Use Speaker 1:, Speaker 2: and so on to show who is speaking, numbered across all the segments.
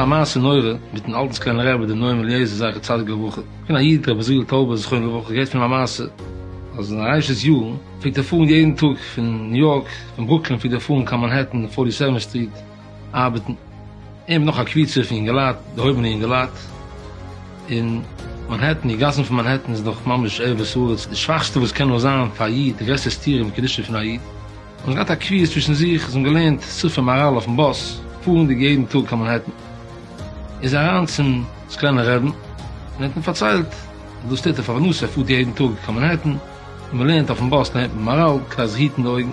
Speaker 1: א מעשה נורא מיטן אלטן סקלענער רבי דער נועם אליעזר זכר צדיק לברכה, פון א איד רבי זאב טאובער זכרונו לברכה געהערט פון א מעשה, אז אין ארישעס יארן פלעגט ער פארן יעדן טאג פון ניו יארק, פון ברוקלין פלעגט ער פארן קיין מאנהעטן און פארטי סעווענט סטריט, ארבעטן, אים נאך א קבוצה פון יונגעלייט, דערהויבענע יונגעלייט, און מאנהעטן, די גאסן פון מאנהעטן איז דאך ממש ערבות הארץ, די שוואכסטע וואס קען נאר זיין פאר א איד, די גרעסטע סתירה אין קדושה פון א איד, און זיי האבן געהאט א קביעות צווישן זיך, זיי האבן געלערנט ספר מאראל אויפן באס, פארנדיג יעדן טאג קיין מאנהעטן, איז ער אריין צום סקלענער רעבן, און ער האט אים פארציילט אז דאס טוט ער פארוואס ער פארט יעדן טאג קיין מאנהעטן, ווען מען לערנט אויפן באס לערנט מען מאראל, כדי זיך היטן די אויגן.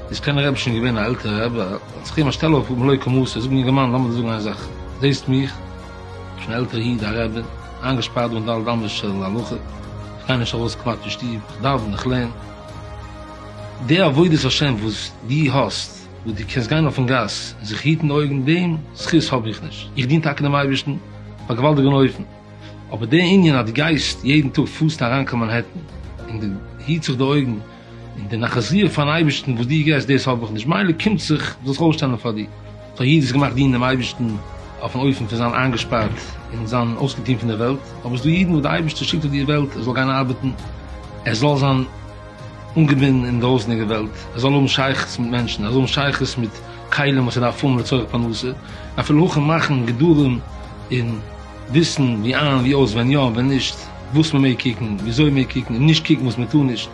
Speaker 1: איז קען הרב שוין געווען א עלטערע רבי, האט זיך איהם א שטעל אויפגעהאבן לויט כמותו, זאג יונגערמאן לאמיר דיר זאגן איין זאך, זעהסט מיך, שוין עלטערע איד, א רבי, איינגעשפארט דא אין ד' אמות של הלכה, איך גיי נישט ארויס כמעט פון שטוב, איך דאווען, איך לערן. די עבודת השם וואס דו האסט, וואס דו קענסט גיין אויפן גאס און זיך היטן די אויגן, דעם זכות האב איך נישט, איך דין טאקע דעם אייבערשטן אויף א געוואלדיגן אופן, אבער די ענין אז דו גייסט יעדן טאג פוסט אריין קיין מאנהעטן און דו היטסט זיך די אויגן און די נחזיה פארן אייבערשטן וואס דו געסט דאס האב איך נישט מילא קומט זיך דאס אויסשטעלן פאר דיר סאו יעדער איז געמאכט דינען דעם אייבערשטן אויפן אופן פון זיין איינגעשפארט און זיין אויסגעטון פון דער וועלט אבער ס'דא אידן וואס דער אייבערשטער שיקט אויף די וועלט ער זאל גיין ארבעטן ער זאל זיין אנגעבינדן אין דרויסענדיגע וועלט, ער זאל האבן שייכות מיט מענטשן, ער זאל האבן שייכות מיט כלים וואס ער דארף האבן לצורך פרנסה, אפילו הוכן מאכן גדרים און וויסן ווי איין ווי אויס, ווען יא ווען נישט, וואס מען מעג קוקן, וויאזוי מען מעג קוקן, און נישט קוקן וואס מען טאר נישט,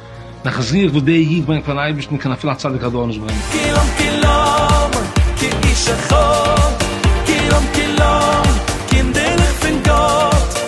Speaker 1: נחת רוח וואס דער איד ברענגט פארן אייבערשטן קען אפילו א צדיק הדור נישט ברענגען. כולם כולם, כאיש אחד,
Speaker 2: כולם כולם, קינדערלעך פון גאט.